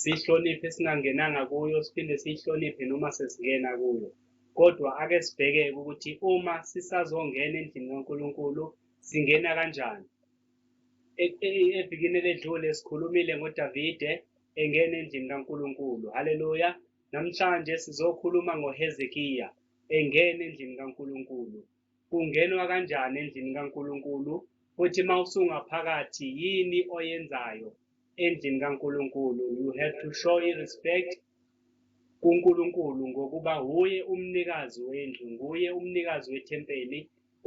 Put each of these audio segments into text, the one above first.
siyihloniphe singangenanga kuyo siphinde siyihloniphe noma sesingena kuyo kodwa ake sibhekeke ukuthi uma sisazongena endlini kaNkulunkulu singena kanjani e, e, evikini eledlule sikhulumile ngoDavide engena endlini kaNkulunkulu haleluya namhlanje sizokhuluma ngoHezekiya engena endlini kaNkulunkulu Kungenwa kanjani endlini kaNkulunkulu, futhi uma usungaphakathi yini oyenzayo endlini kaNkulunkulu? You have to show irespect kuNkulunkulu ngokuba wuye umnikazi wendlu, nguye umnikazi wethempeli.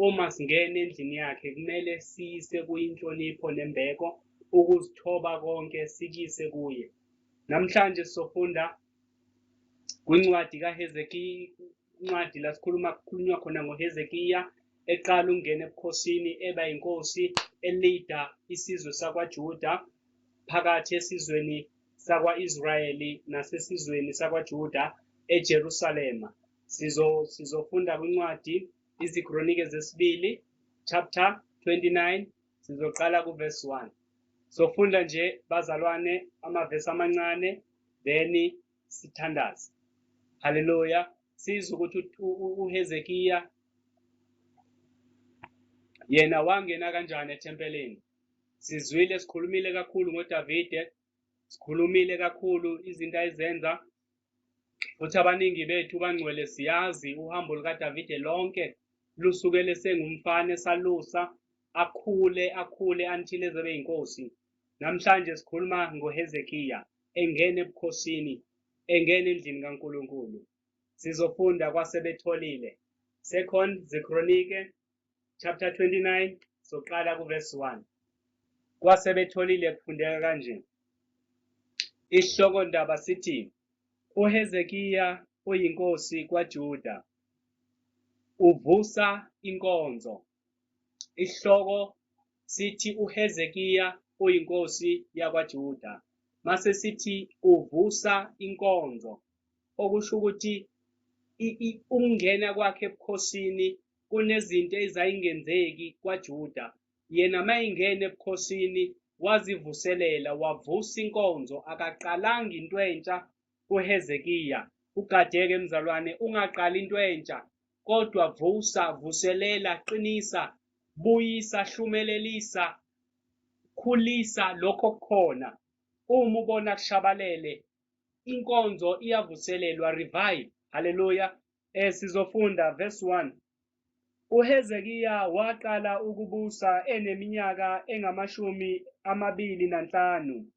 Uma singena endlini yakhe kumele siyise kuyinhlonipho nembeko, ukuzithoba konke sikise kuye. Namhlanje sofunda kwincwadi kaHezekiya incwadi la sikhuluma kukhulunywa khona ngoHezekiya eqala ukungena ebukhosini eba inkosi elida isizwe sakwaJuda phakathi esizweni sakwa-Israyeli nasesizweni sakwaJuda eJerusalema sizo sizofunda kwincwadi izikronike zesibili chapter 29 sizoqala kuverse 1 sofunda nje bazalwane amavesi amancane then sithandaze haleluya sizwe ukuthi uHezekiya yena wangena kanjani ethempelini sizwile sikhulumile kakhulu ngoDavide sikhulumile kakhulu izinto ayizenza futhi abaningi bethu bangcwele siyazi uhambo lukaDavide lonke lusukele sengumfana esalusa akhule akhule until ezebe inkosi namhlanje sikhuluma ngoHezekiya engena ebukhosini, engena endlini kaNkulunkulu. Sizofunda kwasebetholile. Second zeKronike chapter 29 soqala kuverse 1. Kwasebetholile kufundeka kanje. Isihloko ndaba sithi uHezekiya oyinkosi kwaJuda uvusa inkonzo. Isihloko sithi uHezekiya uyinkosi yakwaJuda, mase sithi uvusa inkonzo, okusho ukuthi ukungena kwakhe ebukhosini kunezinto ezayingenzeki kwaJuda. Yena mayingena ebukhosini wazivuselela wavusa inkonzo, akaqalanga into entsha kuHezekiya, Ugadeke mzalwane, ungaqali into entsha, kodwa vusa, vuselela, qinisa, buyisa, hlumelelisa, khulisa lokho kukhona. Uma ubona kushabalele, inkonzo iyavuselelwa, revive. Haleluya. Eh sizofunda verse 1. UHezekiya waqala ukubusa eneminyaka engamashumi amabili nanhlanu.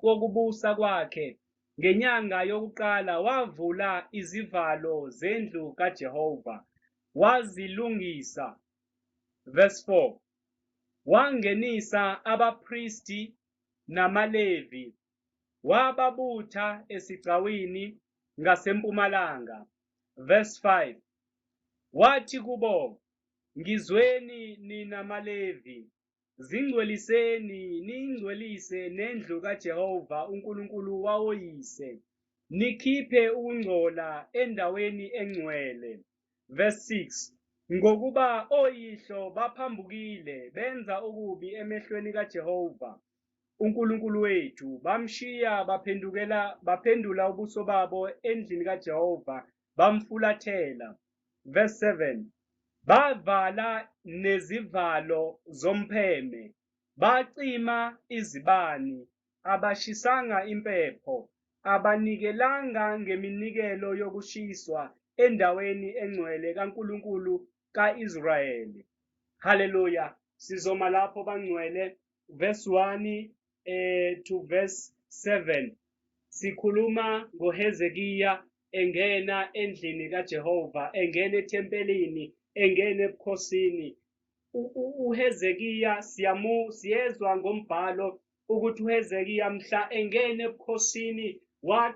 kokubusa kwakhe, ngenyanga yokuqala wavula izivalo zendlu kaJehova, wazilungisa. Verse 4, Wangenisa abapristi namaLevi, wababutha esigcawini ngasempumalanga. Verse 5, Wathi kubo, Ngizweni nina maLevi, Zingcweliseni niyingcwelise nendlu kaJehova uNkulunkulu wawoyise, nikhiphe ukungcola endaweni engcwele. Verse 6 Ngokuba oyihlo baphambukile benza okubi emehlweni kaJehova uNkulunkulu wethu, bamshiya baphendukela baphendula ubuso babo endlini kaJehova bamfulathela. Verse 7 Bavala nezivalo zompheme, bacima izibani, abashisanga impepho, abanikelanga ngeminikelo yokushiswa endaweni engcwele kaNkulunkulu ka-Israyeli. Haleluya! Sizoma lapho bangcwele. Verse 1 eh, to verse 7 sikhuluma ngoHezekiya engena endlini kaJehova engena ethempelini engena ebukhosini uHezekiya siyamu siyezwa ngombhalo ukuthi uHezekiya mhla engena ebukhosini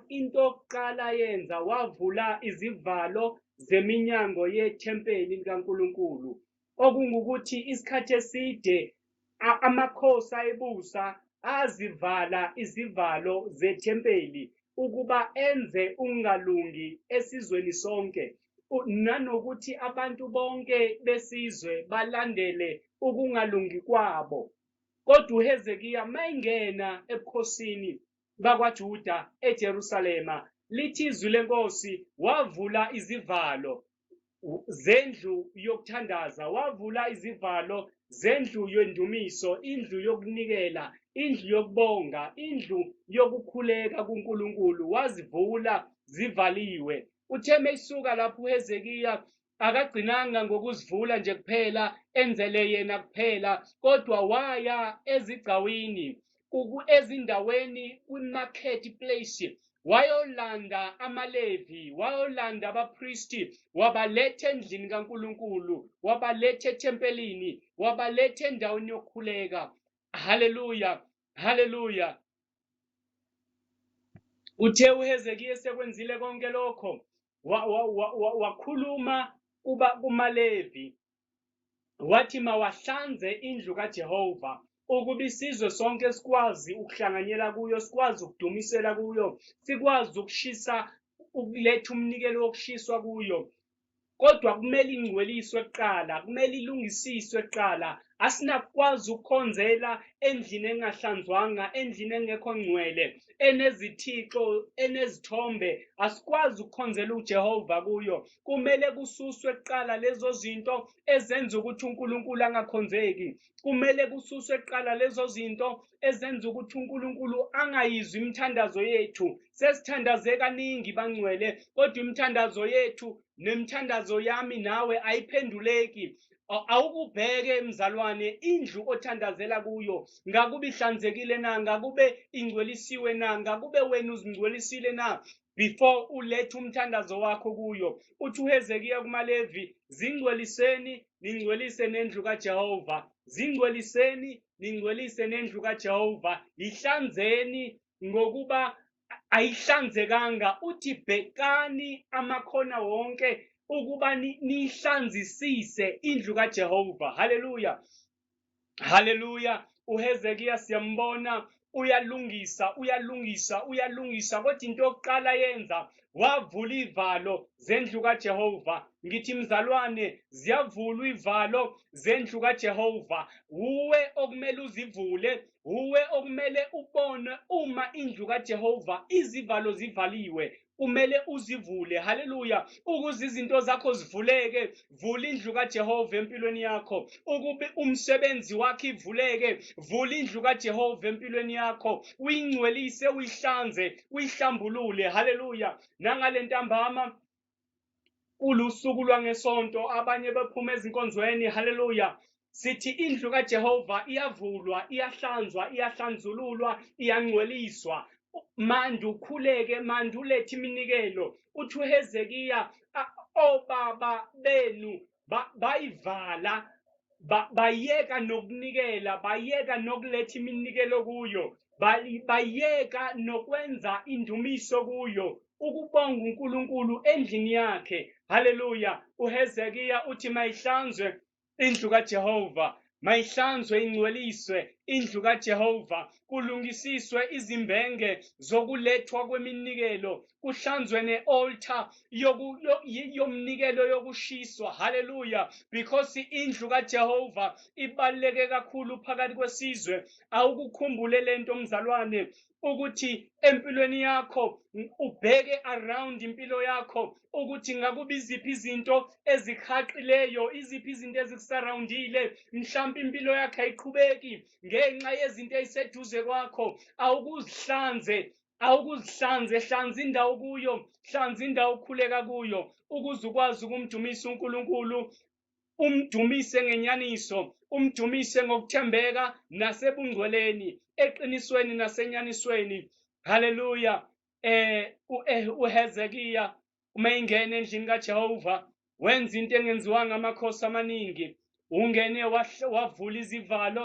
into yokuqala yenza wavula izivalo zeminyango yethempeli likaNkulunkulu okungukuthi isikhathi eside amakhosi ayebusa azivala izivalo zethempeli ukuba enze ungalungi esizweni sonke nanokuthi abantu bonke besizwe balandele ukungalungi kwabo. Kodwa uHezekiya mayengena ebukhosini bakwaJuda eJerusalema, lithi izwi lenkosi wavula izivalo zendlu yokuthandaza wavula izivalo zendlu yendumiso indlu yokunikela indlu yokubonga indlu yokukhuleka kuNkulunkulu wazivula zivaliwe utheme isuka lapho uHezekiya akagcinanga ngokuzivula nje kuphela enzele yena kuphela kodwa waya ezigcawini ezindaweni kwi-market place wayolanda amaLevi, wayolanda abapristi, wabaletha endlini kaNkulunkulu, wabaletha ethempelini, wabaletha endaweni yokukhuleka. Haleluya, haleluya. Uthe uHezekiya sekwenzile konke lokho, wakhuluma wa, wa, wa, kumaLevi, wathi mawahlanze indlu kaJehova ukuba isizwe sonke sikwazi ukuhlanganyela kuyo sikwazi ukudumisela kuyo sikwazi ukushisa ukuletha umnikelo wokushiswa kuyo kodwa kumele ingcweliswe kuqala kumele ilungisiswe kuqala asinakukwazi ukukhonzela endlini engahlanzwanga endlini engekho ngcwele enezithixo enezithombe asikwazi ukukhonzela ujehova kuyo kumele kususwe kuqala lezo zinto ezenza ukuthi uNkulunkulu angakhonzeki kumele kususwe kuqala lezo zinto ezenza ukuthi uNkulunkulu angayizwi imithandazo yethu sesithandaze kaningi bangcwele kodwa imithandazo yethu nemithandazo yami nawe ayiphenduleki awukubheke mzalwane indlu othandazela kuyo ngakube ihlanzekile na ngakube ingcwelisiwe na ngakube wena uzingcwelisile na before ulethe umthandazo wakho kuyo uthi uhezekiya kumalevi zingcweliseni ningcwelise nendlu kajehova zingcweliseni ningcwelise nendlu kajehova yihlanzeni ngokuba ayihlanzekanga uthi bhekani amakhona wonke ukuba nihlanzisise indlu kajehova haleluya haleluya uhezekiya siyambona uyalungisa uyalungisa uyalungisa kodwa into yokuqala yenza wavula iy'valo zendlu kaJehova ngithi mzalwane ziyavulwa iy'valo zendlu kaJehova wuwe okumele uzivule wuwe okumele ubone uma indlu kaJehova izivalo zivaliwe kumele uzivule haleluya ukuze izinto zakho zivuleke vula indlu kajehova empilweni yakho ukube umsebenzi wakho ivuleke vula indlu kajehova empilweni yakho uyingcwelise uyihlanze uyihlambulule haleluya nangale ntambama Kulusuku lwangesonto abanye bephuma ezinkonzweni haleluya sithi indlu kaJehova iyavulwa iyahlanzwa iyahlanzululwa iyangcweliswa manje ukhuleke manje ulethe iminikelo uthi uHezekiya obaba benu ba- bayivala ba- bayeka nokunikela bayeka nokuletha iminikelo kuyo bali- bayeka nokwenza indumiso kuyo ukubonga unkulunkulu endlini yakhe haleluya uhezekiya uthi mayihlanzwe indlu kajehova Mayihlanzwe ingcweliswe indlu kaJehova, kulungisiswe izimbenge zokulethwa kweminikelo, kuhlanzwe ne-oltha yomnikelo yokushiswa. Haleluya! Because indlu kaJehova ibaluleke kakhulu phakathi kwesizwe. Awukukhumbule lento mzalwane, ukuthi empilweni yakho ubheke around impilo yakho ukuthi ngakuba iziphi izinto ezihaqileyo iziphi izinto ezikusarawundile mhlawumpe impilo yakho ayiqhubeki ngenxa yezinto eziseduze kwakho awukuzihlanze awukuzihlanze hlanza indawo kuyo hlanza indawo okhuleka kuyo ukuze ukwazi ukumdumisa uNkulunkulu umdumise ngenyaniso umdumise ngokuthembeka nasebungcweleni eqinisweni nasenyanisweni haleluya eh, eh uHezekiya uma ingena endlini kaJehova wenza into engenziwanga amakhosi amaningi ungene wavula izivalo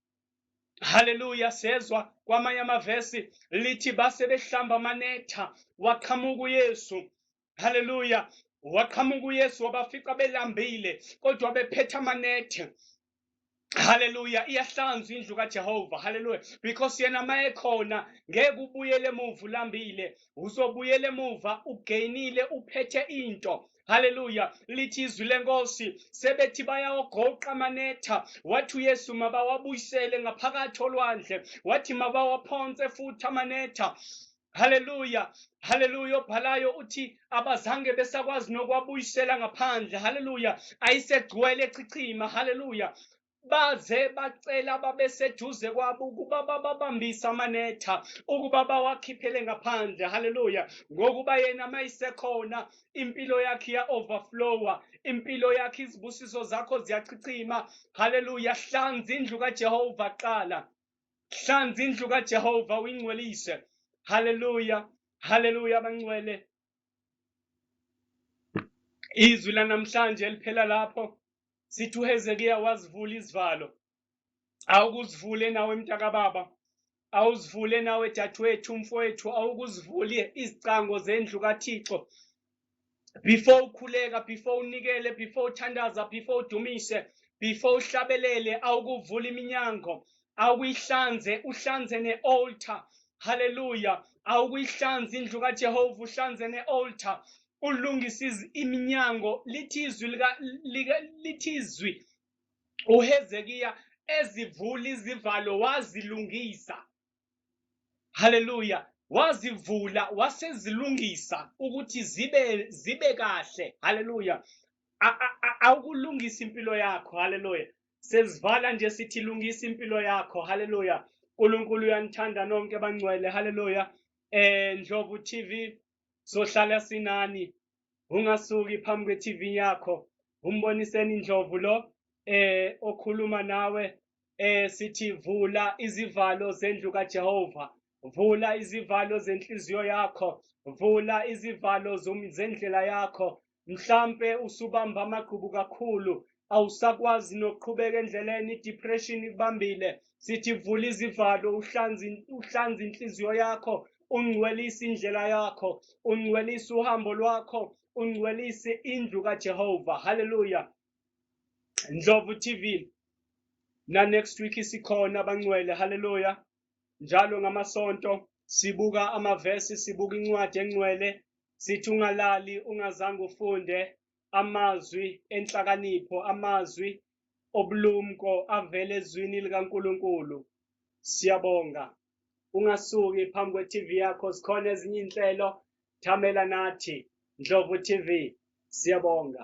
haleluya sezwa kwamanye amavesi lithi base behlamba amanetha waqhamuka uyesu haleluya waqhamuka uyesu wabafica belambile kodwa bephethe amanethe haleluya iyahlanzwa indlu kajehova haleluya because yena ma ekhona ngeke ubuyele emuva ulambile uzobuyela emuva ugainile uphethe into haleluya lithi izwi lenkosi sebethi bayawagoqa amanetha wathi uyesu mabawabuyisele ngaphakathi olwandle wathi mabawaphonse futhi amanetha haleluya haleluya obhalayo uthi abazange besakwazi nokwabuyisela ngaphandle haleluya ayisegcwele chichima haleluya baze bacela babeseduze kwabo ukuba bababambise amanetha ukuba bawakhiphele ngaphandle haleluya ngokuba yena mayisekhona impilo yakhe iya-overflowa impilo yakhe izibusiso zakho ziyachichima haleluya hlanza indlu kajehova qala hlanza indlu kajehova uyingcwelise haleluya haleluya abangcwele Izwi lanamhlanje eliphela lapho sithi uHezekiya wazivula izivalo. Awukuzivule nawe mntakababa, awuzivule nawe dadewethu, mfowethu, awukuzivule izicango zendlu kaThixo. Before ukhuleka, before unikele, before uthandaza, before udumise, before uhlabelele, awukuvula iminyango awuyihlanze uhlanze ne-altar haleluya awukuyihlanza indlu kajehova uhlanze ne-altar ulungise iminyango lithi izwi lithi izwi uhezekiya ezivula izivalo wazilungisa haleluya wazivula wasezilungisa ukuthi zibe zibe kahle haleluya awukulungisa impilo yakho haleluya Sezivala nje sithi lungisa impilo yakho. Haleluya. uNkulunkulu uyanithanda nonke bangcwele. Haleluya. Eh Ndlovu TV sohlala sinani. Ungasuki phambi kwe-TV yakho. Umboniseni Ndlovu lo eh okhuluma nawe eh sithi vula izivalo zendlu kaJehova. Vula izivalo zenhliziyo yakho. Vula izivalo zendlela yakho. Mhlampe usubamba amagqubu kakhulu, awusakwazi nokuqhubeka endleleni, i-depression ikubambile. Sithi vula izivalo, uhlanze uhlanze inhliziyo yakho, ungcwelise indlela yakho, ungcwelise uhambo lwakho, ungcwelise indlu kaJehova. Haleluya. Ndlovu TV na next week isikhona abangcwele. Haleluya. Njalo ngamasonto sibuka amavesi, sibuka incwadi engcwele, sithi ungalali ungazange ufunde amazwi enhlakanipho, amazwi obulumko avela ezwini likaNkulunkulu. Siyabonga. Ungasuki phambi kwe-TV yakho, zikhona ezinye iy'nhlelo. Thamela nathi, Ndlovu TV. Siyabonga.